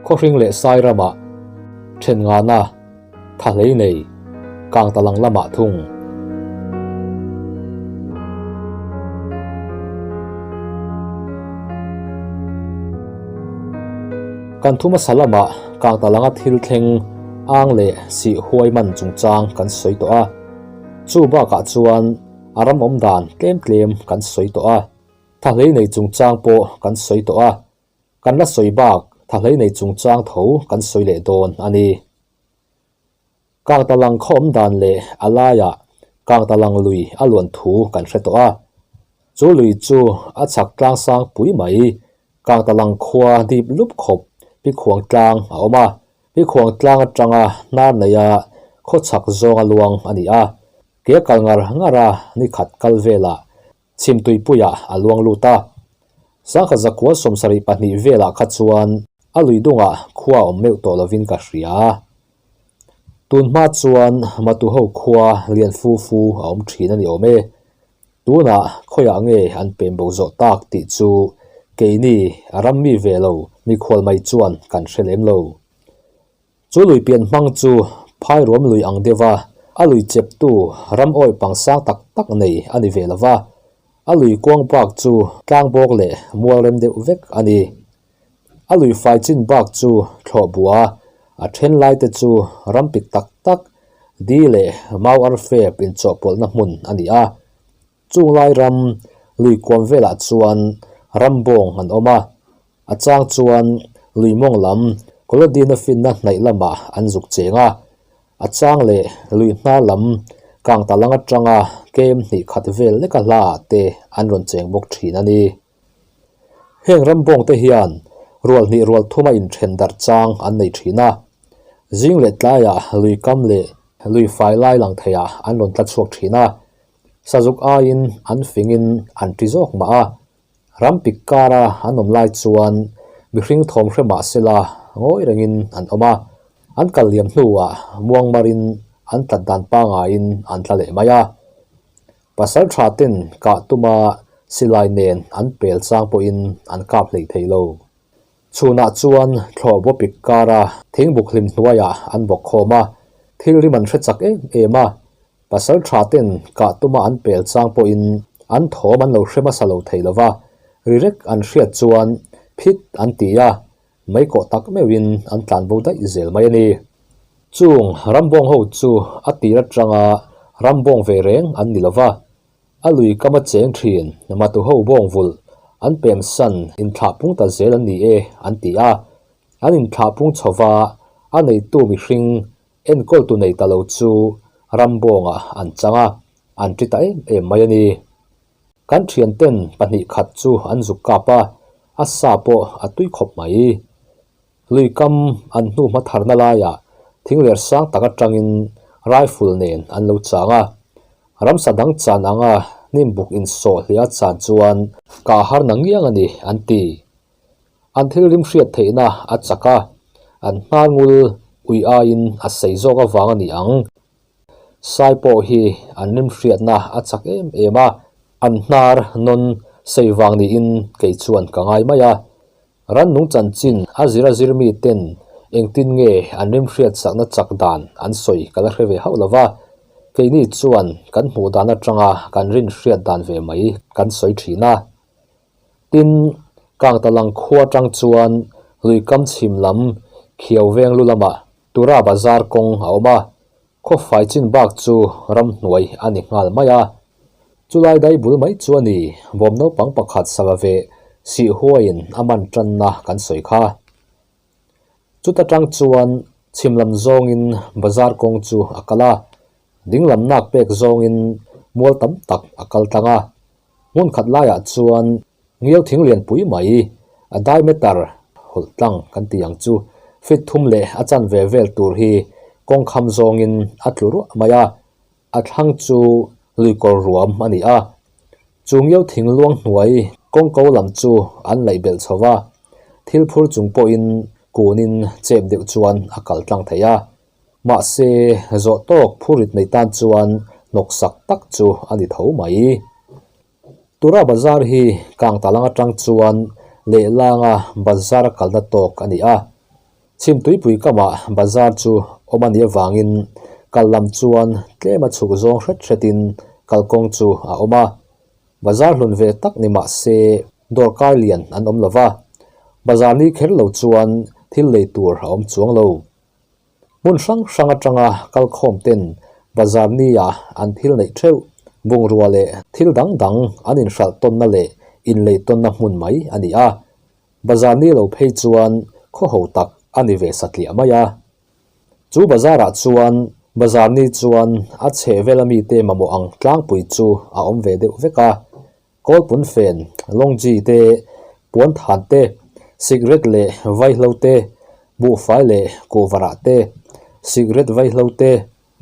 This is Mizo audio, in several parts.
Khawhring leh Sairamah then ngahna tha hlei nei, kang ta lang lamah thung. Kan thuma sa lamah. Kangta langa thil thleng ang leh sih huai man chungchang kan sawi tawh a, chu bakah chuan a ram awm dan tlem tlem kan sawi tawh a, thahlei nei chungchang pawh kan sawi tawh a, kan la sawi bak thahlei nei chungchang tho kan sawi leh dawn a ni. Kangtalang khawm dan leh a laiah Kangtalang lui a luan thu kan hre tawh a, chu lui chu a chhak tlang sang pui mai. Kangtalang khua dip lup khawp Pikhuang tlang a awm a, Pikhuang tlang atanga hnar neia khawchhak zawnga luang a ni a, ke kal ngar ngara nikhat kal velah Chhim tuipuiah a luang lut a, Sangha zakhua sawm sarih pahnih velah kha chuan a lui dungah khua awm meuh tawh lovin ka hria. Tun hma chuan Matuho khua lian fu fu a awm thin a ni awm e. Tunah khawiah nge an pem bo zawh tak tih chu keini a ram mi ve lo mi khualmai chuan kan hre lem lo. Chu lui pian hmang chu phai ruam lui ang deuh a, a lui cheptu ram awih pang sang tak tak nei a ni ve lova, a lui kuang bak chu tlang bawk leh mual rem deuh vek a ni. A lui fai chin bak chu thlawh bua, a then lai te chu ram pit tak tak, di leh mau arfep inchawhpawlhna hmun a ni a. Chunglai ram Luikuam velah chuan ram bawng an awm a, a chang chuan Luimawng lam Kolodina finna hnaih lamah an zuk cheng a, a chang leh Luihna lam Kangtalang atanga kem hnih khat vel leka hla ah te an rawn cheng bawk thin a ni. Heng ram bawng te hian rual hnih rual thuma inthen darh chang an nei thin a, zing leh tlaiah Luikam leh Luifai lai lang thei ah an rawn tla chhuak thin a, Sazuk aiin an fingin an ṭi zawk mah a, rampik kara an awm lai chuan mihring thawm hre mah sela ngawi rengin an awm a, an kal liam hnuah muangmarin an tlat dan pangaiin an tla leh mai a. Pasal ṭha ten kah tuma silai nen an pel chang pawhin an kap hleih thei lo. Chhunah chuan thlawh vawpik kara thingbuk hlim hnuaiah an vawk khawm a, thilrim an hre chak em em a, Pasal tha ten kah tuma an pel chang pawhin an thawm an lo hre hmasa lo thei lo va, ri rek an hriat chuan phit an ti a, maikawh tak meuhin an tlan bo daih zel mai a ni. Chung rambawng ho chu a tir atanga rambawng ve reng an ni lo va, a lui kam a cheng thin matu ho bawng vulh an pem san inthlah pung ta zel an ni e an ti a, an inthlah pung chhova a neitu mihring Enkawltu nei ta lo chu Rambawngah an chang a, an ṭi ta em em mai a ni. Kan ṭhianten pahnih khat chu an zuk kap a, a sa pawh a tui khawp mai. Lui kam an hnu hma tharna laiah thing ler sang tak aṭangin rifle nen an lo chang a. Ramsa dang chan anga hnimbuk insawh hliah a chan chuan kah a harna ngiang a ni, an ti. An thil rimhriat theihna a chak a, an hma ngul ui aiin a saih zawk avang a ni ang. Sai pawh hi an rimhriatna a chak em em a, an hnar nawn saih vang niin kei chuan ka ngai mai a. Rannung chanchin a zir a zir miten engtin nge an rimhriat sakna chak dan an sawi ka la hre ve hauh lova, keini chuan kan hmuh dan atanga kan rinhriat dan ve mai kan sawi thin a. Tin, Kangtalang khua atang chuan Luikam chhim lam Khiauvenglu lamah Tura bazar kawng a awm a, khawfai chin bak chu ramhnuai a ni nghal mai a. Chulai dai bul mai chu a ni, bawm naupang pakhat sava ve sih huaiin a man tanna kan sawi kha. Chuta tang chuan chhim lam zawngin bazar kawng chu a kal a, dinglam nak pek zawngin mual tam tak a kal tlang a, Hmun khat laiah chuan ngiau thing lian pui mai a diameter hawlh tlang kan tih ang chu feet thum leh a chan ve vel tur hi kawng kham zawngin a tlu ruah mai a, a thlang chu lui kawr ruam a ni a. Chu ngiau thing luang hnuai kawng ko lam chu an laih belh chho va, thil phur chung pawhin kunin chep deuh chuan a kal tlang thei a. Mahse, zawh tawk phu rit nei tan chuan hnawksak tak chu a ni tho mai. Tura bazar hi kang talang atang chuan lehlanga bazar a kalna tawk a ni a. Chhim tuipui kamah bazar chu awm a nih avangin kal lam chuan tlem a chhuk zawng hret hretin kal kawng chu a awm a. Bazar hlun ve tak ni mah se, dawrkar lian an awm lo va. Bazar ni kher lo chuan thil lei tur a awm chuang lo. Hmun hrang hrang atanga kal khawm ten bazar ni ah an phil neih theuh. Bungrua leh thil dang dang an in hralh tawnna leh in lei tawnna hmun mai a ni a. Bazar ni lo phei chuan khawho tak a ni ve satliah mai a. Chu bazar ah chuan bazar ni chuan a chheh vela mi te mamawh ang tlangpui chu a awm ve deuh vek a. Kawl punfen, long ji te, puan than te, cigarette leh vai hlo te, buhfai leh kuhvarah te, cigarette vai hlo te,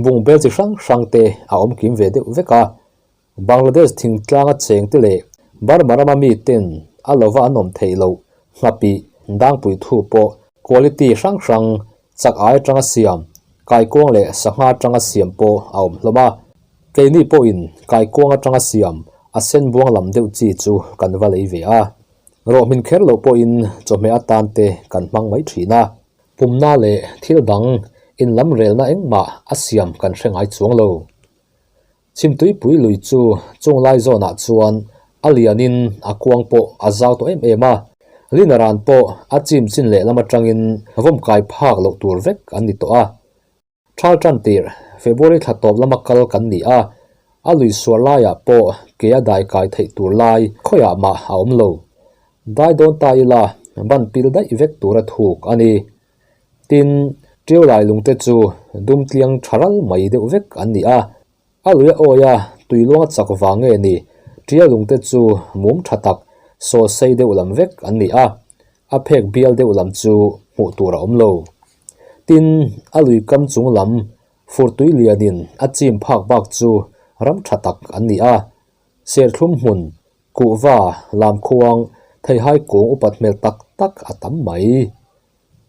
bungbel chi hrang hrang te a awm kim ve deuh vek a. Bangladesh thingtlanga cheng te leh Burma rama mi ten a lova an awm theih loh ngha pi dangpui thu pawh quality hrang hrang Chak'ai atanga siam, kaikuang leh sangha atanga siam pawh a awm hlawm a. Keini pawhin kaikuang atanga siam a sen buang lam deuh chi chu kan va lei ve a. Rawh hmin kher loh pawhin chawhmeh atan te kan hmang mai thin a. Pumna leh thil dang inlamrelna engmah a siam kan hre ngai chuang lo. Chhim tuipui lui chu chung lai zawnah chuan a lianin a kuang pawh a zau tawh em em a, Lina ran pawh a chim chin lehlam atangin vawm kai phak loh tur vek an ni tawh a. Thal tan tirh February thla tawp lama kal kan ni a, a lui suar laiah pawh ke a dai kai theih tur lai khawiah mah a awm lo. Dai dawn ta ila banpil daih vek tura thuk a ni. Tin, Tiaulai lungte chu dumtliang tha ral mai deuh vek an ni a, a lui a awi a, tui luang a chak vang nge ni? Tiau lungte chu mum tha tak, saw sei deuh lam vek an ni a, a phek bial deuh lam chu hmuh tur a awm lo. Tin, a lui kam chung lam furtui lianin a chim phak bak chu ram tha tak an ni a, serthlum hmun Kuhva, lamkhuang, theihai kung upat hmel tak tak a tam mai.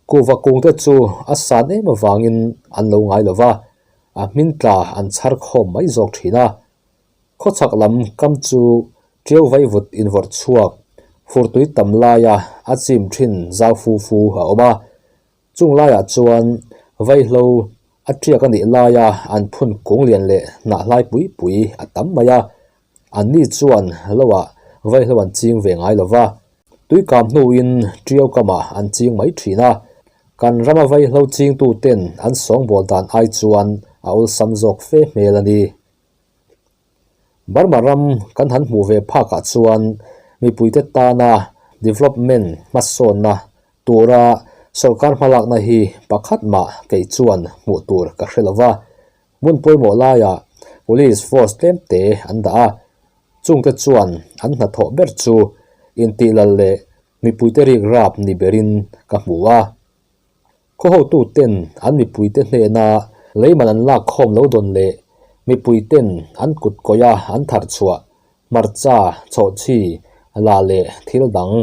Kuhva kung te chu a san em avangin an lo ngai lo va, a hmin tla an chhar khawm mai zawk thin a. Khawchhak lam kam chu ṭiau vai vut invawrh chhuak, furtui tam laia a chim ṭhin zau fu fu a awm a. Chung laiah chuan vaihlo a tiak a nih laia an phun kung lian leh hnah hlai pui pui a tam mai a, an ni chuan loah vaihlo an ching ve ngai lo va, tui kam hnuin ṭiau kamah an ching mai ṭhin a, kan rama vaihlo chingtu ten an sawngbawl dan ai chuan a awlsam zawk fe hmel a ni. Burma ram kan han hmuh ve phakah chuan mipuite tana development hmasawnna tura sawrkar hmalakna hi pakhat mah kei chuan hmuh tur ka hre lo va, hmun pawimawh laiah police force tlemte an dah a, chungte chuan an hnathawh ber chu intihlal leh mipuite rikrap ni berin ka hmu a. Khawhotuten an mipuite hnena leiman an lak khawm lo dawn leh mipuiten an kut kawia an thar chhuah, hmarcha, chhawhchhi, la leh thil dang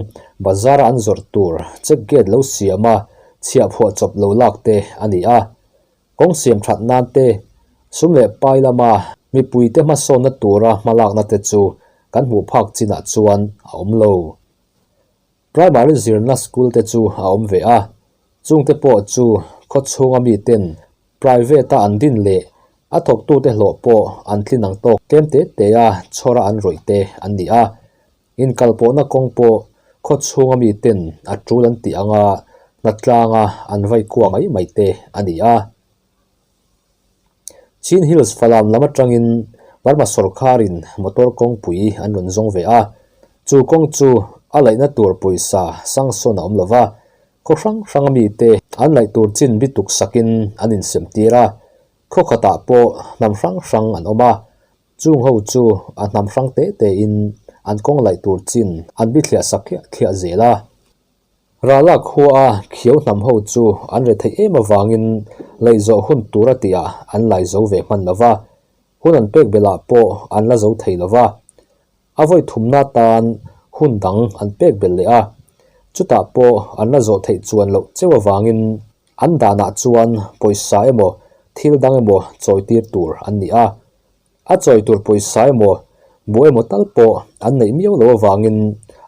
bazara an zawrh tur check gate lo siam a chhiah phuah chawp lo lak te a ni a. Kawng siam that nan te, sum leh pai lama mipuite hmasawnna tura hmalakna te chu kan hmuh phak chinah chuan a awm lo. Primary zirna school te chu a awm ve a, chungte pawh chu khawchhunga miten private a an din leh a thawktute hlawh pawh an tlin ang tawk. Tlem te teia chhawra an rawih te an ni a, inkalpawhna kawng pawh khawchhunga miten a tul an tih anga hnatlanga an vaikuah mai mai te a ni a. Chin Hills Falam lam atangin Burma sorkarin motor kawngpui an rawn zawng ve a, chu kawng chu a laihna tur pawisa sanction a awm lo va, khaw hrang hranga mite an laih tur chin bi tuksakin an insem tir a, khaw khatah pawh hnam hrang hrang an awm a, chung ho chu a hnam hrang te tein an kawng laih tur chin an bi thliah sak thliah zel a. Ral lak khua a khiau hnam ho chu an re theih em avangin lei zawh hun tur a tih ah an lai zo ve hman lo va, hun an pek belah pawh an la zo thei lo va. A vawi thumna atan hun dang an pek bel leh a, chutah pawh an la zawh theih chuan loh cheu avangin an danah chuan pawisa emaw thil dang emaw chawitir tur an ni a. A chawi tur pawisa emaw buh emaw tal pawh an neih miau lo avangin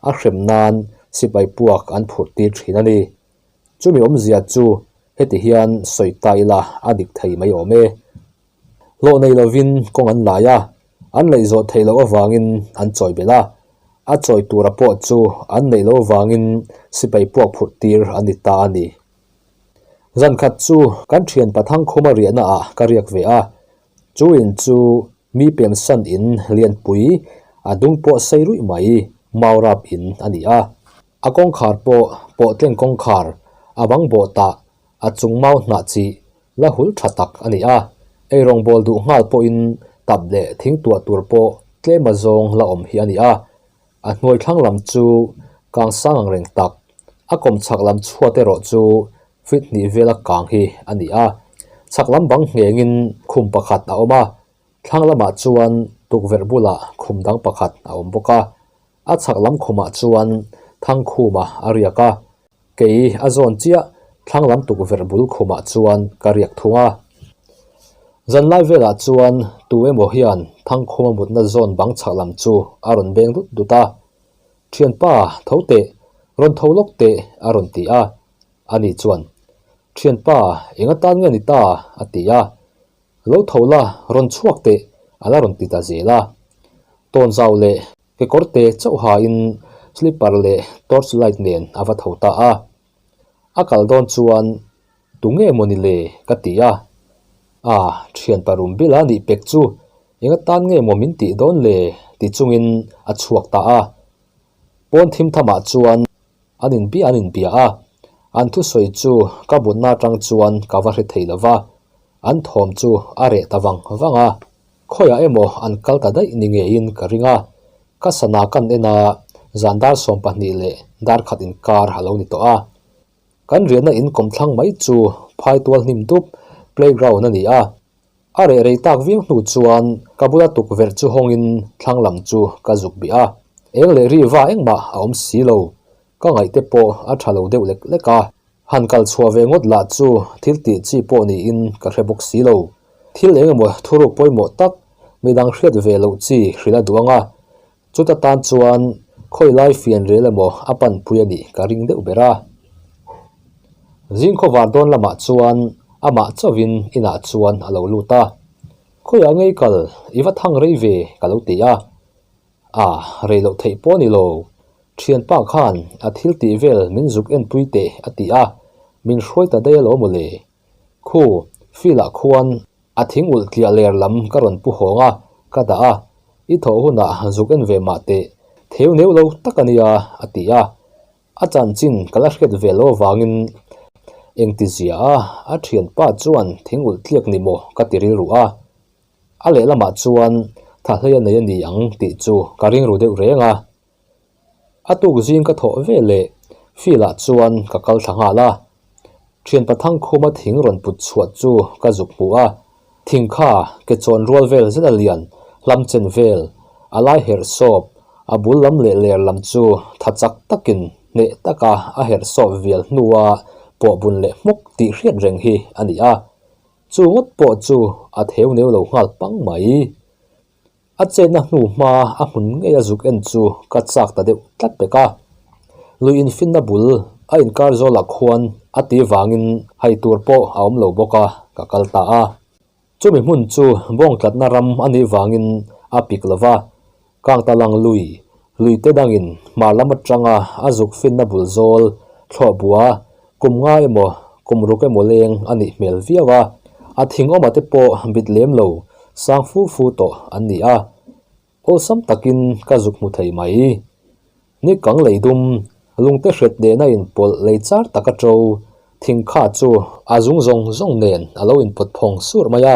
a hrem nan sipai puak an phurh tir thin a ni. Chumi awmzia chu heti hian sawi ta ila a dik thei mai awm e. Hlawh nei lovin kawng an lai a, an laih zawh thei loh avangin an chawi belh a, a chawi tura pawh chu an neih lo avangin sipai puak phurh tir an ni ta a ni. Zan khat chu kan thianpa Thangkhuma riahnaah ka riak ve a, Chu in chu mi pemsan in lianpui a dung pawh sei ruih mai mau rap in a ni a, a kawngkhar pawh pawhtleng kawngkhar a vang bawh tah a chung mau hnah chi la hul tha tak a ni a, eirawng bawl duh nghal pawhin tap leh thing tuah tur pawh tlema zawng la awm hi a ni a, A hnuai thlang lam chu kang sang ang reng tak, a kawmchhak lam chhuat erawh chu fit hnih vela kang hi a ni a. Chhak lam bang nghengin khum pakhat a awm a, thlang lamah chuan tukverh bula khum dang pakhat a awm bawk a. A chhak lam khumah chuan thangkhuma a riak a. Kei a zawn chiah thlanglam tukverh bul khumah chuan ka riak thung a. Zanlai velah chuan tu emaw hian Thangkhuma mutna zawn bang chhak lam chu a rawn beng dut dut a. Thianpa, tho teh, rawn tho lawk teh a rawn ti a. Ani chuan, Thianpa, enga tan nge ni ta? a ti a. Lo tho la, rawn chhuak teh, a la rawn ti ta zel a. Tawnzau leh Kekawr te chauh hain slipper leh torch light nen a va tho ta a, a kal dawn chuan tu nge maw ni le ka ti a, ah thian pa Rumbila a nih pek chu eng atan nge maw min tih dawn le ti chungin a chhuak ta a, pawn thim thamah chuan an inbia an inbia a, an thusawi chu ka mutna atang chuan ka va hre thei lova, an thawm chu a reh ta vang vang a, Khawiah emaw an kal ta daih ni ngeiin ka ring a, ka sana kan en a, zan dar sawm pahnih leh dar khat inkar a lo ni tawh a. Kan riahna in kawm thlang mai chu phai tual hnim dup playground a ni a, a reh rei tak viau hnu chuan ka bula tukverh chu hawngin thlang lam chu ka zuk bih a, eng leh riva engmah a awm si lo, ka ngaihte pawh a tha lo deuh lek lek a. Han kal chhuah ve ngawt lah chu thil tih chi pawh niin ka hre bawk si lo. Thil eng emaw thuruk pawimawh tak midang hriat ve loh chi hrilh a duh ang a, chuta tan chuan khawilai fianrial emaw a panpui a nih ka ring deuh ber a. Zingkhaw var dawn lamah chuan a mah chauhin inah chuan a lo lut a. Khawiah ngei kal i va thang rei ve ka lo ti a. A rei loh theih pawh a ni lo. Ṭhianpa khan a thil tih vel min zuk en pui teh a ti a, min hruai ta daih alawm awle. Khu, field ah khuan a thing ulh tliah ler lam ka rawn pu hawng a, ka dah a, i thawh hunah zuk en ve mah teh, theu neuh lo tak a nia a ti a, a chanchin ka la hriat ve lo avangin engtizia a, a ṭhianpa chuan thing ulh tliak ni maw ka ti rilru a. A lehlamah chuan Thahlei a nei a ni ang tih chu ka ringru deuh reng a, a tuk zing ka thawh ve leh field ah chuan ka kal thla nghal a, thianpa thangkhuma thing rawn put chhuah chu ka zuk hmu a, thing kha ke chawn rual vel zet a lian, hlam chen vel a lai herh sawp, a bul lam leh ler lam chu tha chak takin hneh taka a herh sawp vial hnua pawh bun leh hmuk tih hriat reng hi a ni a. Chu ngawt pawh chu a theu neu lo nghal pang mai. A chetna hnu hma a hmun ngei a zuk en chu ka chak ta deuh tlat vek a. Lui infinna bul a inkar zawlah khuan a tih vangin hai tur pawh a awm lo bawk a ka kal ta a. Chumi hmun chu bawngtlatna ram a nih vangin a pik lo va. Kangtalang lui, luite dangin hmar lam atanga a zuk finna bul zawl, thlawhbua, kum nga emaw kum ruk emaw leng a nih hmel viau a, a thingawma te pawh bit lem lo, sang fu fu tawh an ni a. Awlsam takin ka zuk hmu thei mai. Ni kang lei dum, lungte hret nena inpawlh lei char taka to, thing kha chu a zung zawng zawng nen a lo inpawt phawng sur mai a,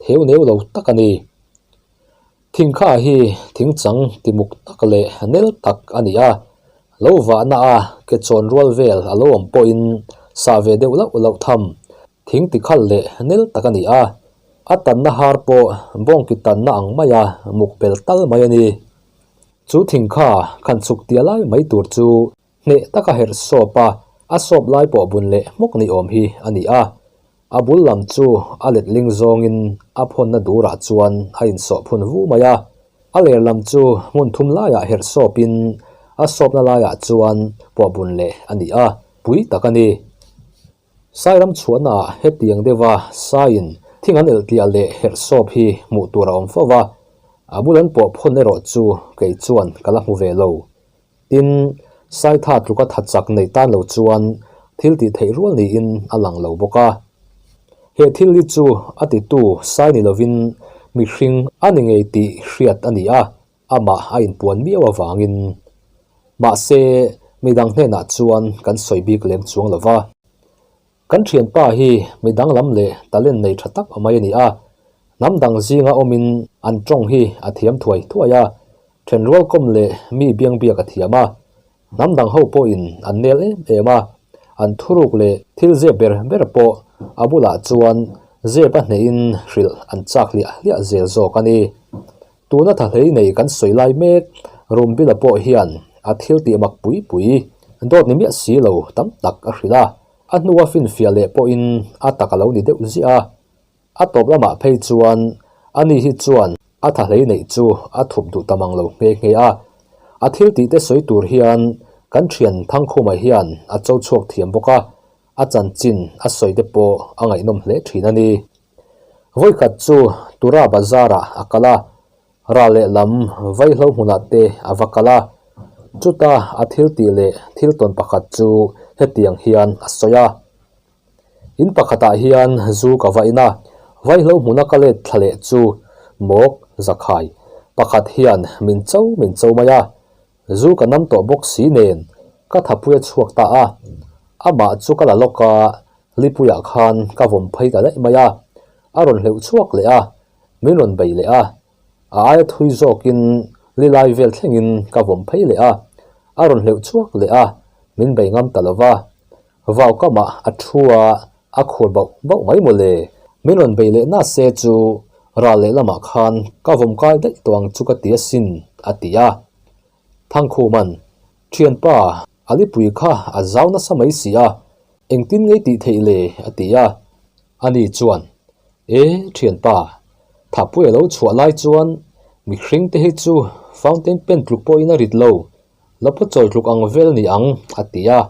theu neu lo tak a ni. Thingkha hi thing chang timuk tak leh nel tak a ni a, lo vahna a kechawn rual vel a lo awm pawhin sah ve deuh loh loh tham thing ti khal leh nel tak a ni a, a tanna har pawh bawngki tanna ang mai a muk pel tal mai a ni. Chu thingkha khan chhuk tia lai mai tur chu. Hneh taka herh sawp a, a sawp lai pawh bun leh hmawk ni awm hi a ni a. A bul lam chu a letling zawngin a phawnna durah chuan a insawh phun vu mai a. A ler lam chu hmun thum laiah herh sawpin a sawpna laiah chuan pawh bun leh a ni a, pui tak a ni. Sairam chhuahnaah hetiang deuha saiin thing an elhtial leh herh sawp hi hmuh tur a awm fo va, a bulan pawh phawn erawh chu kei chuan ka la hmu ve lo. Tin, Saitha tluka that chak neih tan lo chuan thil tih theih rual niin a lang lo bawk a. He thil hi chu a titu sai ni lovin mihring a ni ngei tih hriat a ni a, amah a inpuan miau avangin. Mahse, midang hnenah chuan kan sawi bik lem chuang lo va. Kan thianpa hi mi danglam leh talent nei tha tak a mai a ni a, hnam dang zinga awmin an tawng hi a thiam thuai thuai a, then rualkawm leh mi biangbiak a thiam a, hnam dang ho pawhin an nel em em a, an thuruk leh thil zep ber ber pawh a bulah chuan zepa hnehin hrilh an chak hliah hliah zel zawk a ni. Tuna tha hlei nei kan sawi lai mek room bila pawh hian a thil tih mak pui pui, dawt ni miah si lo tam tak a hrilh a, a hnua finfiah leh pawhin a tak a lo ni deuh ziah a. A tawp lamah phei chuan ani hi chuan a tha hlei neih chu a thup duh ta mang lo nghe nghe a, a thil tih te sawi tur hian kan thian Thangkhumah hian a cho chhuak thiam bawk a, a chanchin a sawi te pawh a ngaihnawm hle thin a ni. Vawikhat chu Tura Bazar-ah a kal a, ral leh lam vai hlo hmunah te a va kal a. Chuta a thiltih leh thiltawn pakhat chu hetiang hian a sawi a, In pakhatah hian zu ka va in a, vai hlo hmuna ka let thla leh chu Mawk Zakhai pakhat hian min chau min chau mai a, Zu ka nam tawh bawk si nen ka thapui a chhuak ta a, amah chu ka la lawk a, Lipuia khan ka vawm phei ta daih mai a, a rawn hleuh chhuak leh a, min rawn beih leh a, a aia thui zawkin Lilai vel thlengin ka vawm phei leh a, a rawn hleuh chhuak leh a, min bei ngam ta lo va. Vau kamah a thu a, a khur bauh bauh mai maw le. Min rawn bei leh nât se chu ral leh lamah khan ka vawm kai daih tawh ang chu ka ti asin, a ti a. Thangkhuman, Ṭhianpa, a lipui kha a zau nasa mai si a, engtin ngei tih theih le? a ti a. Ani chuan, E Ṭhianpa, Thahpuia lo chhuah lai chuan mihring te hi chu fountain pen tluk pawhin a rit lo, la pawh chawi tluk ang vel ni ang, a ti a.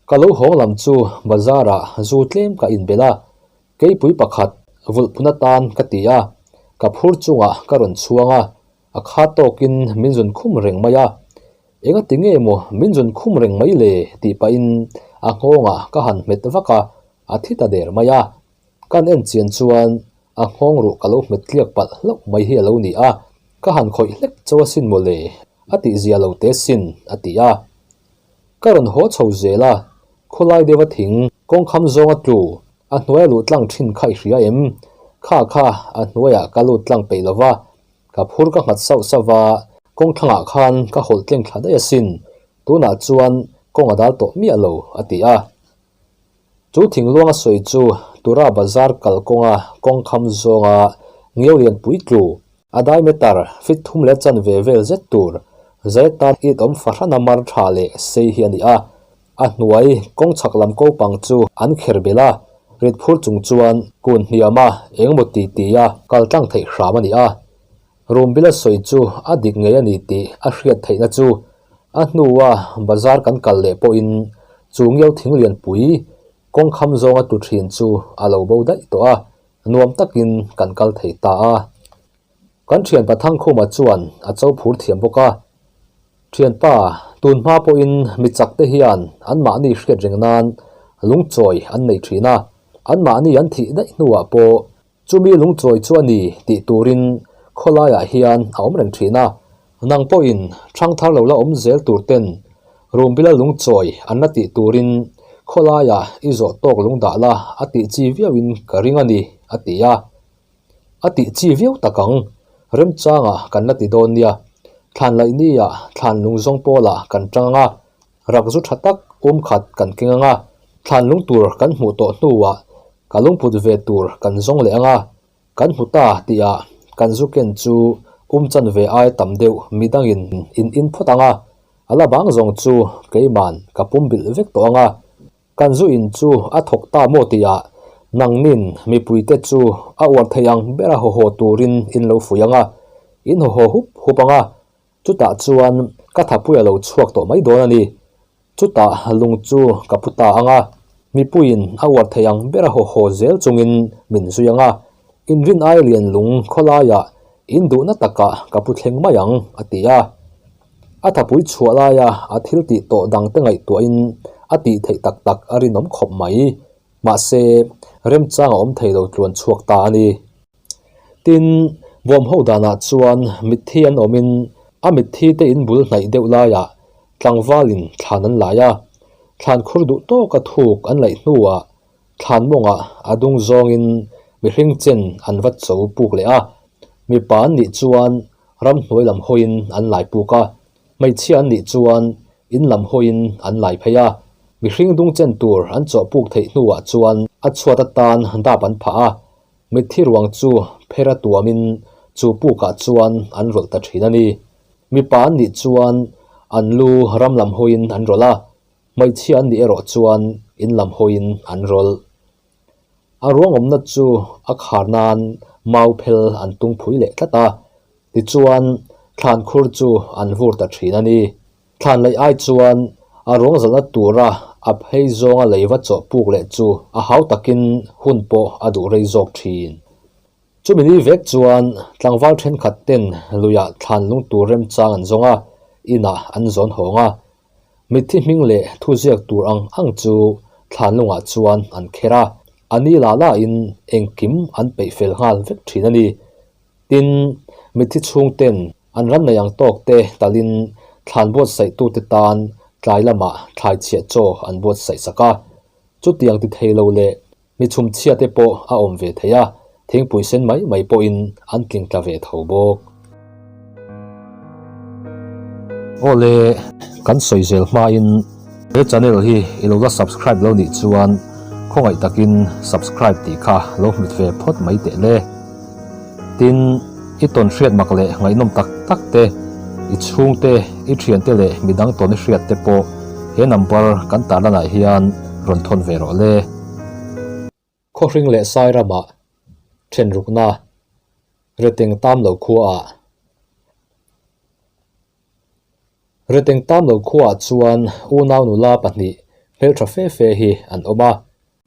Ka lo hawng lam chu bazar ah zu tlem ka in belh a, keipui pakhat vulh phun atan ka ti a, ka phur chungah ka rawn chhuang a, a khat tawk in min zun khum reng mai a, enga ti nge maw min zun khum reng mai le tih pah in a nghawngah ka han hmet vak a, a thi ta der mai a, kan en chian chuan a nghawng ruh ka lo hmet tliak palh hlauh mai hi a lo ni a, ka han khawih hlek chauh asin maw le a tihzia lo te sin a ti a. Ka rawn haw chho zel a, khawlai deuha thing kawngkham zawnga tlu a hnuaia luh tlang thin kha i hria em? Kha kha a hnuaiah ka lut tlang peih lo va, ka phur ka nghat sauh sauh va, kawng thlangah khan ka hawlh tleng thla daih asin, tunah chuan kawng a dal tawh miah lo, a ti a. Chu thing luanga sawi chu Tura bazar kal kawnga kawngkham zawnga Ngiorian puitlu, a diameter feet thum leh chan ve vel zet tur Zaitan Eid awm fahrana mar tha leh sei hi a ni a. A hnuai kawng chhak lam ko pang chu an kher belh a, rit phur chung chuan kun hniam a engmaw ti ti a kal tlang theih hram a ni a. Rumbila sawi chu a dik ngei a ni tih a hriat theihna chu a hnua bazar kan kal leh pawhin Chungiau thing lianpui kawng kham zawnga tu thin chu a lo bo daih tawh a, nuam takin kan kal thei ta a. Kan thianpa Thangkhuma chuan a cho phur thiam bawk a, Thianpa, tun hma pawhin mi chak te hian an mahni hriat reng nan lungchawi an nei thin a, an mahni an thih daih hnuah pawh Chumi lungchawi chu a ni tih turin khawlaiah hian a awm reng thin a. Nang pawhin ṭhang thar lo la awm zel tur ten Rumbila lungchawi an la tih turin khawlaiah i zawh tawk lung dah la a tih chi viauin ka ring a ni, a ti a. A tih chi viau tak ang. Remchangah kan la ti dawn nia. Thlanlaihni ah thlan lungzawng pawlah kan ṭang ang a, Rak zu tha tak um khat kan keng anga, thlanlung tur kan hmuh tawh hnuah ka lungput ve tur kan zawng leh anga, kan hmu ta tihah kan zu ken chu um chan ve ai tam deuh midangin in in phawt anga, a la bang zawng chu keiman ka pumbilh vek tawh anga, kan zu in chu a thawk ta maw tihah nangnin mipuite chu a uar thei ang bera haw haw turin in lo fuih anga, in haw haw hup hup anga, Chutah chuan ka thapui a lo chhuak tawh mai dawn a ni. Chutah lung chu ka pu ta ang a, mipuiin a uar thei ang ber a haw haw zel chungin min zui ang a. Inrin ai lian lung khaw laiah in duhna takah ka pu thleng mai ang, a ti a. A thapui chhuah laia a thiltih tawh dangte ngaihtuahin a tih theih tak tak a rinawm khawp mai. Mahse, remchang a awm thei lo tluan chhuak ta a ni. Tin, bawm ho danah chuan mitthi an awmin a mitthi te in bul hnaih deuh laiah tlangvalin thlan an laih a. Thlan khur duh tawka thuk an laih hnuah thlan mawngah a dung zawngin mihring chen an va cho puk leh a. Mipa an nih chuan ramhnuai lam hawiin an lai puk a. Hmeichhia an nih chuan in lam hawiin an lai phei a, mihring dung chen tur an chawh puk theih hnuah chuan a chhuat atan dap an phah a, mitthi ruang chu pher a tuamin chu pukah chuan an rawlh ta thin a ni. Mipa an nih chuan an lu ram lam hawiin an rawlh a, hmeichhia an nih erawh chuan in lam hawiin an rawlh. A ruangawmna chu a khar nan mau phel an tung phui leh tlat a, tichuan thlan khur chu an vur ta thin a ni. Thlanlaih ai chuan a ruangzalhna tura a phei zawnga lei va chawh puk leh chu a hau takin hun pawh a duh rei zawk thin. Chumi ni vek chuan tlangval thenkhat ten luiah thlan lungtur remchang an zawng a, inah an zawn hawng a, Mitthi hming leh thuziak tur ang ang chu thlanlungah chuan an kher a, a ni la lain engkim an peih fel nghal vek thin a ni. Tin, mitthi chhungten an ran nei ang tawk te talhin thlan buatsaitute tan tlai lamah thlaichhiah chaw an buatsaih sak a. Chutiang ti thei lo leh Mi chhumchhia te pawh a awm ve thei a, thingpui sen mai mai pawhin an tling tla ve tho bawk. Awle, kan sawi zel hmain he channel hi i lo la subscribe lo nih chuan khawngaih takin subscribe tih kha lo hmit ve phawt mai tehle. Tin, i tawn hriat mak leh ngaihnawm tak tak te, i chhungte, i thiante leh mi dang tawn i hriat te pawh he number kan tah lanah hian rawn thawn ve rawh le. Khawhring leh Sairamah thenrukna Reteng Tam Lo Khuaah Reteng Tam Lo Khuaah chuan unau nula pahnih hmeltha fe fe hi an awm a,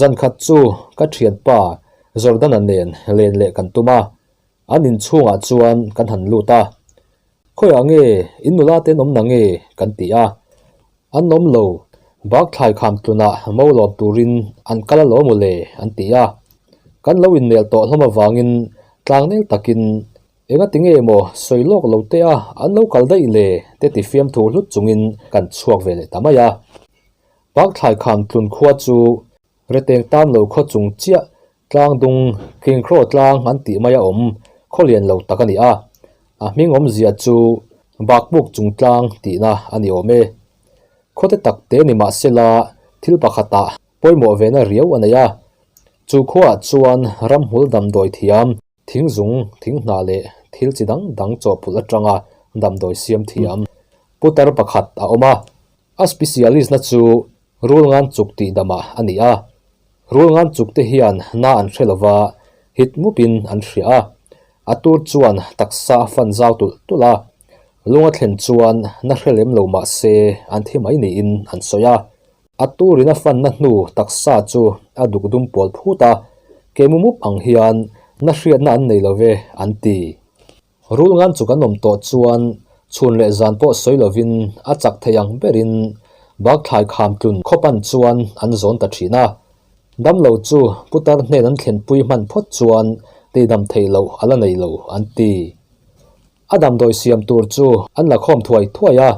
Zan khat chu ka thianpa Jordana nen len leh kan tum a, an in chhungah chuan kan han lut a. Khawiah nge in nula ten awmna nge kan ti a, an awm lo, bak thlai kham tlunah mo lawm turin an kal alawm u le an ti a. Kan lo inmel tawh hlawm avangin tlang nel takin enga tinge emaw sawi lawk lo te a an lo kal daih le te tifiam thu hlut chungin kan chhuak ve leh ta mai a. Pakthlaikham tlun khua chu Reteng tam lo khaw chung chiah tlang dung King Kro tlang an tih mai a awm khaw lian lo tak a ni a, a hming awmzia chu Bakbuk chung tlang tihna a ni awm e. Khawte tak te ni mah se la thil pakhatah pawimawh vena riau a nei a, chu khaw ah chuan ramhmul damdawi thiam, Thing zung, thing hnah leh thil chi dang dang chawhpulh atanga damdawi siam thiam putar pakhat a awm a. A specialist-na chu rul ngan chuk tih dama a ni a. Rul ngan chuk te hian hna an hre lova hit ngupin an hria a. A tur chuan taksa a fan zau tulh tulh a. Lunga thlen chuan hna hre lem lo mahse an thi mai niin an sawi a. A turin a fanna hnu taksa chu a duk dum pawl phut a, kei mu mup ang hian na hriatna an nei love an ti. Rul ngan chu kan awm tawh chuan chhun leh zan pawh sawi lovin a chak thei ang berin Bakthlai kham tlun khaw pan chuan an zawn ta thin a. Damlo chu putar hnen an thlenpui hman phawt chuan teidam theih loh a la nei lo an ti. A damdawi siam tur chu an la khawm thuai thuai a,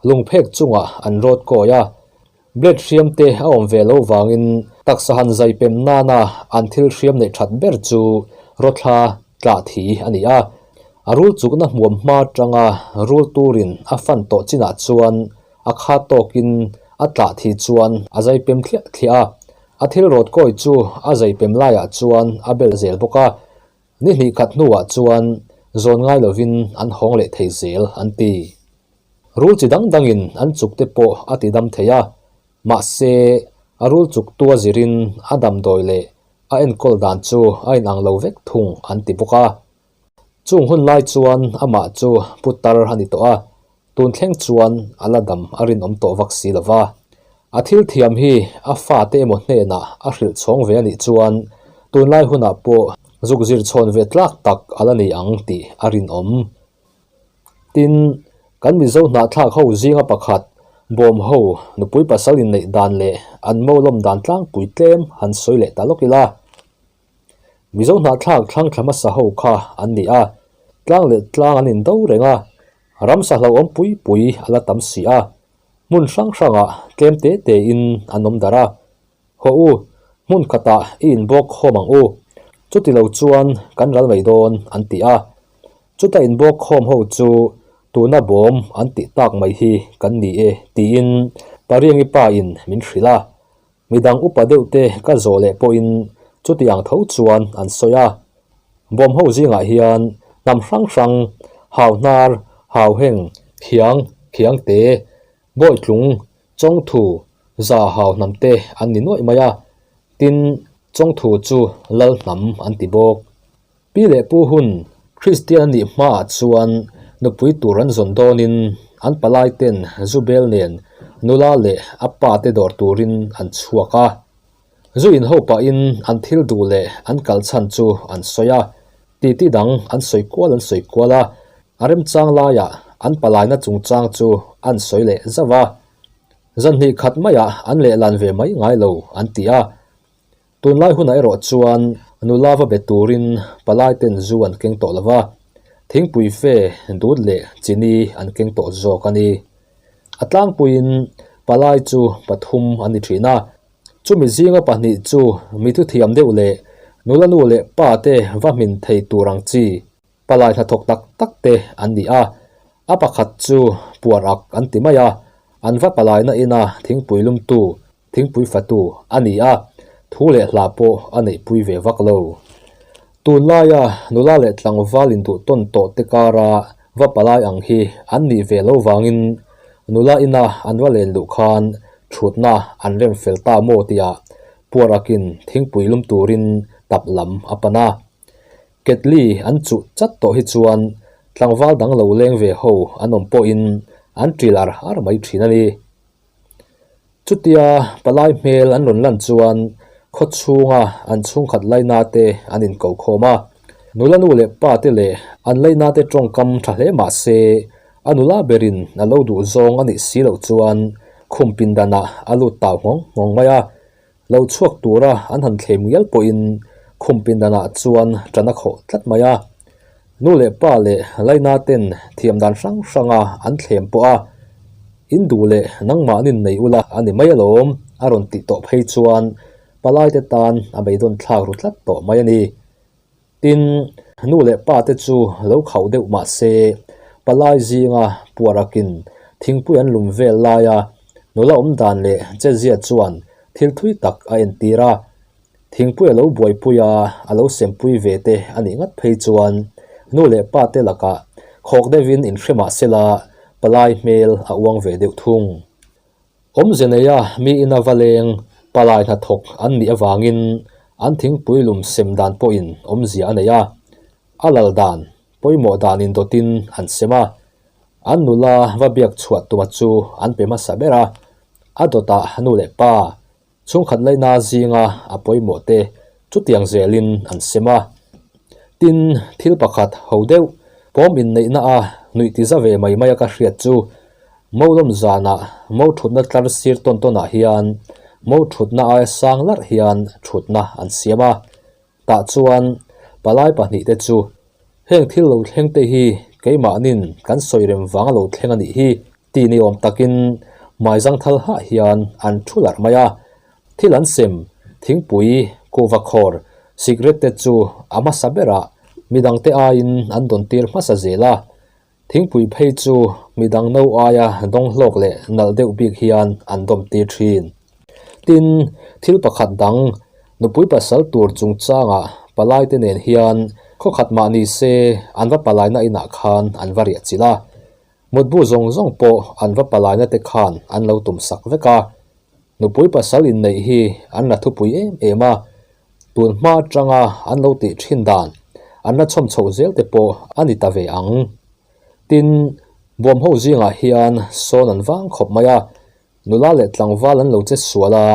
lung phek chungah an rawt kawi a. Blade hriam te a awm ve lo vangin taksa han zai pem nana an thil hriam neih that ber chu rawthla tlah thi a ni a. A rul chukna hmuam hma tanga rul turin a fan tawh chinah chuan a kha tawkin a tlah thi chuan a zai pem thliah thliah a. A thil rawt kawi chu a zai pem laiah chuan a bel zel bawk a. Ni hnih khat hnuah chuan zawn ngai lovin an hawng leh thei zel an ti. Rul chi dang dangin an chuk te pawh a ti dam thei a, mahse, a rul chuk tua zirin a damdawi leh a enkawl dan chu a inang lo vek thung an ti bawk a. Chung hun lai chuan amah chu putar a ni tawh a, Tun thleng chuan a la dam a rinawm tawh vak si lo va, a thil thiam hi a fate emaw hnenah a hrilh chhawng ve a nih chuan tunlai hunah pawh zuk zir chhawn ve tlak tak a la ni ang tih a rinawm. Tin, kan Mizo hnahthlak ho zinga pakhat bawm ho nupui pasal inneih dan leh an mawlawm dan tlangpui tlem han sawi leh ta lawk ila. Mizo hnahthlak thlangthlama saho kha an ni a, tlang leh tlang an indo reng a, ramsa hlauhawm pui pui a la tam si a, hmun hrang hrangah tlem te tein an awm darh a. Haw u, hmun khatah i inbawkhawm ang u, chuti lo chuan kan ral mai dawn an ti a. Chuta inbawkhawm ho chu tuna bawm an tih tak mai hi kan ni e, tiin Pariangi pa in min hrilh a. Midang upa deuhte ka zawh leh pawhin chutiang tho chuan an sawi a, bawm ho zingah hian hnam hrang hrang, hauhnar, hauheng, khiang, khiangte, bawitlung, chawngthu, za hau hnamte an ni nuaih mai a, tin chawngthu chu lal hnam an ti bawk. Pi leh pu hun Kristian nih hmaah chuan nupui tur an zawn dawnin an palai ten zu bel nen nula leh a pa te dawr turin an chhuak a. Zu inho pahin an thil duh leh an kal chhan chu an sawi a, titi dang an sawi kual an sawi kual a, a remchang laiah an palaina chungchang chu an sawi leh zauh a, zan hnih khat maiah an lehlan ve mai ngai lo an ti a. Tunlai hunah erawh chuan nu lava be turin palai ten zu an keng tawh lova, thingpui fe dut leh chini an keng tawh zawk a ni. A tlangpuiin palai chu pathum an ni thin a, chumi zinga pahnih chu mithu thiam deuh leh nula nu leh pa te va hmin thei tur ang chi palai hnathawk tak tak te an ni a, a pakhat chu Puarak an ti mai a, an va palaina ina thingpui lum tu Thingpui fatu a ni a, thu leh hlah pawh a neihpui ve vak lo. Tun laia nula leh tlangval induhtawn tawh te kara va palai ang hi an nih ve lo vangin nula ina an va len luh khan thutna an rem fel ta maw tia Puarakin thingpui lum turin tap lam a pan a. Ketli an chuh chat tawh hi chuan tlangval dang lo leng ve ho an awm pawhin an ṭil ar ar mai ṭhin a ni. Chutia palai hmel an rawn lan chuan khawchhunga an chhungkhat lainate an inkokhawm a. Nulanu leh pate leh an lainate tawngkam tha hle mah se, a nula berin a lo duh zawng a nih si loh chuan khum pindanah a lut tau nghawng nghawng mai a. Lo chhuak tura an han thleh muial pawhin khum pindanah chuan tana khawh tlat mai a. Nu leh pa leh Lainaten thiam dan hrang hranga an thlem pawh a, in duh leh nangmahnin nei ula a ni mai alawm a rawn tih tawh phei chuan palaite tan a beidawnthlak ru tlat tawh mai a ni. Tin, nu leh pa te chu lo khauh deuh mah se, palai zinga puarakin thingpui an lum vel laia nula awm dan leh chezia chuan thil thui tak a entir a. Thingpui a lo buaipuia a lo sempui ve te a nih ngat phei chuan nu leh pa te lakah khawk deuhin inhre mah sela palai hmel a uang ve deuh thung. Awmze neia mi ina va leng palai hna thawk an nih avangin an thingpui lum sem dan pawhin awmzia a nei a, a lal dan, pawimawh danin dawtin an sem a, an nula va biak chhuah tuma chu an pe hmasa ber a, a dawtah nu leh pa, Chhungkhat laina zinga a pawimawh te chutiang zelin an sem a. Tin, thil pakhat ho deuh pawm inneihna a nuih ti za ve mai mai a ka hriat chu, Mo lawm zana Mo thutna tlar sir tawn tawnah hian Mo thutna aia sang larh hian thutna an siam a, Tah chuan palai pahnih te chu heng thil lo thleng te hi keimahnin kan sawi rem vang a lo thleng a nih hi tih ni awm takin hmai zangthal hah hian an thu larh mai a, thil an sem, thingpui, kuhva khawr, cigarette te chu a hmasa berah midangte aiin an dawn tir hmasa zel a. Thingpui phei chu midang no aia dawng hlawk leh nalh deuh bik hian an dawmte thin. Tin, thil pakhat dang, nupui pasal tur chungchangah palaite nen hian khawkhat mah ni se an va palaina inah khan an va riahchilh a. Mutbu zawng zawng pawh an va palaina te khan an lo tum sak vek a. Nupui pasal inneih hi an la thupui em em a. Tun hma tanga an lo tih thin dan an la chhawm chhoh zel te pawh a ni ta ve ang. Tin, bawm ho zingah hian sawn an vang khawp mai a, nula leh tlangval an lo che sual a,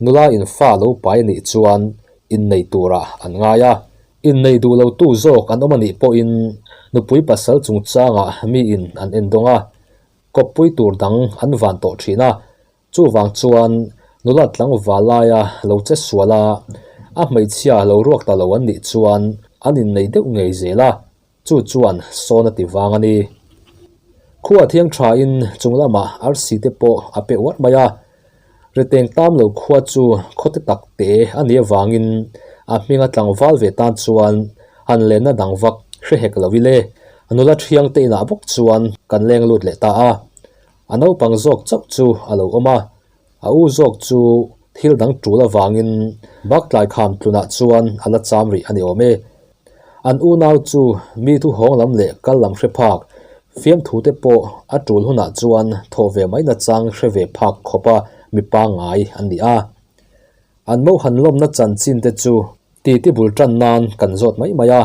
nula in fa lo pai nih chuan innei turah an ngai a. Innei duh lo tu zawk an awm a nih pawhin nupui pasal chungchangah miin an en dawng a, kawppui tur dang an van tawh thin a. Chuvang chuan nula tlangva laia lo che sual a, a hmeichhia lo ruak ta lo an nih chuan an innei deuh ngei zel a, chu chuan sawn a ti vang a ni. Khu a thiang thain chung lamah arsi te pawh a pe uar mai a, ri teng tam lo khua chu khawti tak te a ni avangin a hminga tlangval ve tan chuan han lenna dang vak hre hek lo ile nula thiang te inah bawk chuan kan leng lut leh ta a, A naupang zawk chauh chu a lo awm a, a u zawk chu thil dang tul avangin baktlai kham tlunah chuan a la cham rih a ni awm e. An unau chu mi thu hawng lam leh kal lam hre phak, fiamthu te pawh a tul hunah chuan thawh ve mai nachang hre ve phak khawpa mi pangngai an ni a. An mohan lawmna chanchin te chu titi bul tan nan kan zawt mai mai a,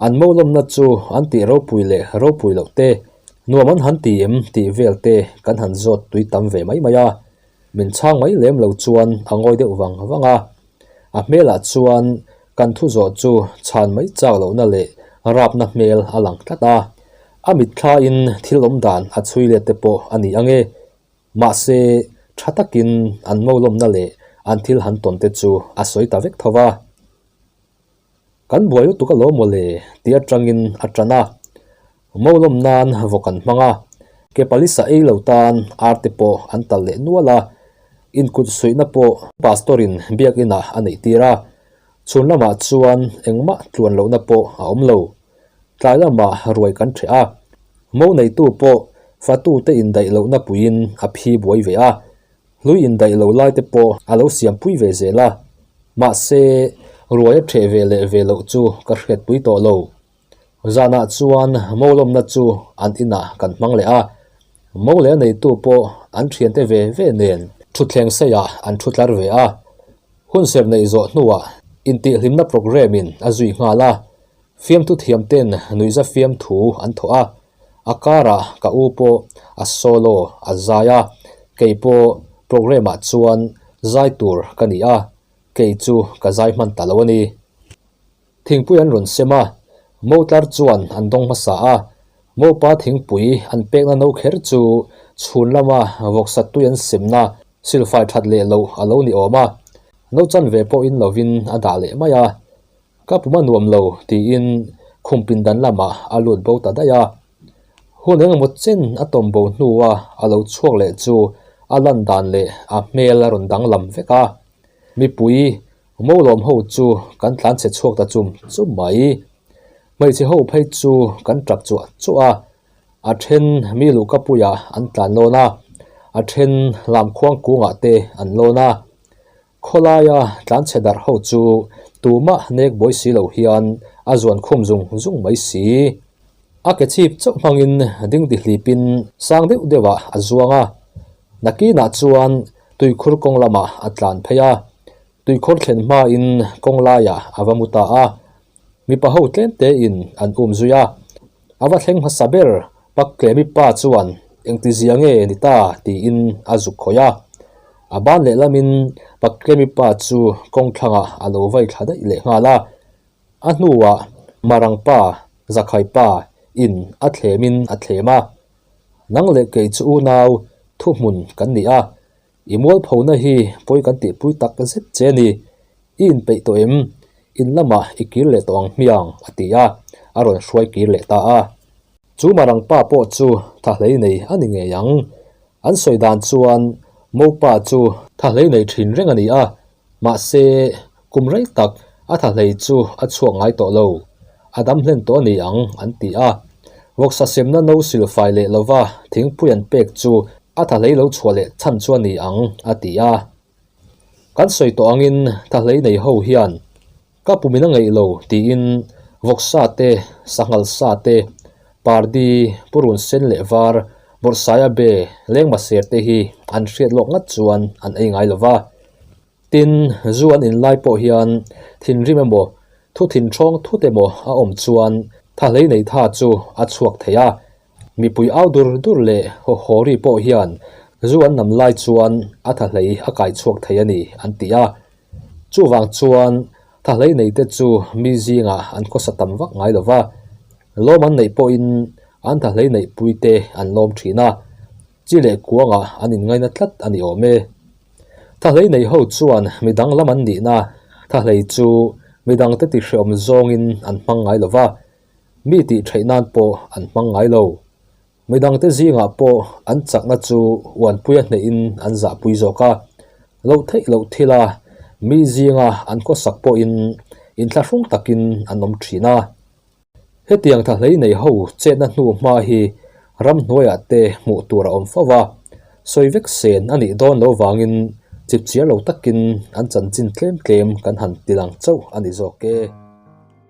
An mohlawmna chu an tih ropui leh ropui loh te, nuam an han ti em tih vel te kan han zawt tui tam ve mai mai a. Min chhang mai lem lo chuan a ngawi deuh vang vang a. A hmelah chuan kan thu zawh chu chhan mai chak lohna leh rapna hmel a lang tlat a. A mitthlain thil awm dan a chhui let te pawh a ni ange. Mahse, tha takin an mohlawmna leh an thil han tawn te chu a sawi ta vek tho va. Kan buai lutuk a lo mawle ti atangin a tan a, Mo lawm nan vaw kan hmang a, ke palisa ei lo tan ar te pawh an tal leh nual a, inkut suihna pawh Pastor-in Biakinah a neih tir a, chhun lamah chuan engmah tluan lohna pawh a awm lo, tlai lamah ruai kan ṭheh a, Mo neitu pawh fatute indaih lohna puiin a phi buai ve a, Hlui indaih lo lai te pawh a lo siam pui ve zel a, mahse ruai a ṭheh ve leh ve loh chu ka hriatpui tawh lo. Zanah chuan Mo lawmna chu an inah kan hmang leh a, Mo leh a neitu pawh an ṭhiante ve ve nen ṭhutthleng seiah an ṭhu tlar ve a. Hunserh neih zawh hnuah intihhlimna programme-in a zui nghal a, Fiamthu thiamten nuihza fiamthu an thawh a, a karah ka u pawh a solo a zai a, kei pawh programme-ah chuan zai tur ka ni a, kei chu ka zai hman ta lo a ni. Thingpui an rawn sem a, Mo tlar chuan an dawng hmasa a, Mopa thingpui an pekna no kher chu chhun lama vawk sattui an semna silfai that leh loh a lo ni awm a, no chanve pawhin lovin a dah leh mai a, Ka pum a nuam lo, tiin khum pindan lamah a lut bo ta daih a. Hun engemaw chen a tawm bo hnua a lo chhuak leh chu a landan leh a hmel a rawn danglam vek a. Mipui mo lawm ho chu kan tlan chhe chhuak ta chum chum mai. Hmeichhe ho phei chu kan ṭap chuah chuah a, a ṭhen mi luhka puiah an tlan lawn a, a ṭhen lam khuang kungah te an lawn a. Khawlaia tlanchhe darh ho chu tumah nek buai si lo hian a zuan khum zung zung mai si. A ke chhip chauh hmangin ding dihlipin sang deuh deuhah a zuang a. Nakinah chuan tuikhur kawng lamah a tlan phei a, tuikhur thlen hmain kawng laiah a va mu ta a, Mipa ho tlêmte in an um zui a, a va thleng hmasa ber pak leh mipa chuan engti zia nge ni ta tiin a zuk khawih a. A ban lehlam in pak leh mipa chu kawng thlangah a lo vai thla daih leh nghal a. A hnuah Marang pa, Zakhai pa, in a thlem in a thlem a, Nang leh kei chu unau thuhmun kan ni a, I mualphona hi pawi kan tihpui tak zet che a ni. I inpeih tawh em? In lamah i kir leh tawh ang hmi ang, a ti a, a rawn hruai kir leh ta a. Chu Marang pa pawh chu thahlei nei a ni ngei ang. An sawi dan chuan Mopa chu thahlei nei thin reng a ni a. Mahse, kum rei tak a thahlei chu a chhuak ngai tawh lo, a dam hlen tawh a ni ang, an ti a. Vawksa semna no sil fai leh lova thingpui an pek chu a thahlei lo chhuah leh chhan chu a ni ang, a ti a. Kan sawi tawh angin thahlei nei ho hian Ka pu min a ngeih lo, tiin vawksa te, sanghalsa te, pardi, purun sen leh var, bawrhsaia be, lengma ser te hi an hriat lawk ngat chuan an ei ngai lo va. Tin, zu an in lai pawh hian thinrim emaw, thu thinhrawng thut emaw a awm chuan tha hlei nei tha chu a chhuak thei a. Mipui au dur dur leh hawhhawri pawh hian zu an nam lai chuan a tha hlei a kai chhuak thei a ni, an ti a. Chuvang chuan thlahlei neite chu mi zinga an khawsa tam vak ngai lova, lawm an neih pawhin an thlahlei neihpuite an lawm thin a, chi leh kuangah an inngaina tlat a ni awm e. Thlahlei nei ho chuan mi danglam an nihna thlahlei chu mi dangte tihrehawm zawngin an hmang ngai lova, mi tih theih nan pawh an hmang ngai lo. Midangte zingah pawh an chakna chu Uanpuia hnehin an zahpui zawk a, lo theih loh thil a, mi zinga an khawsak pawhin inthlahrung takin an awm thin a. Hetiang tha hlei nei ho chetna hnu hma hi ram hnuaiah te hmuh tur a awm fo va, sawi vek sen a nih dawn lo vangin chhipchhiar lo takin an chanchin tlem tlem kan han tilang chauh a ni zawk e.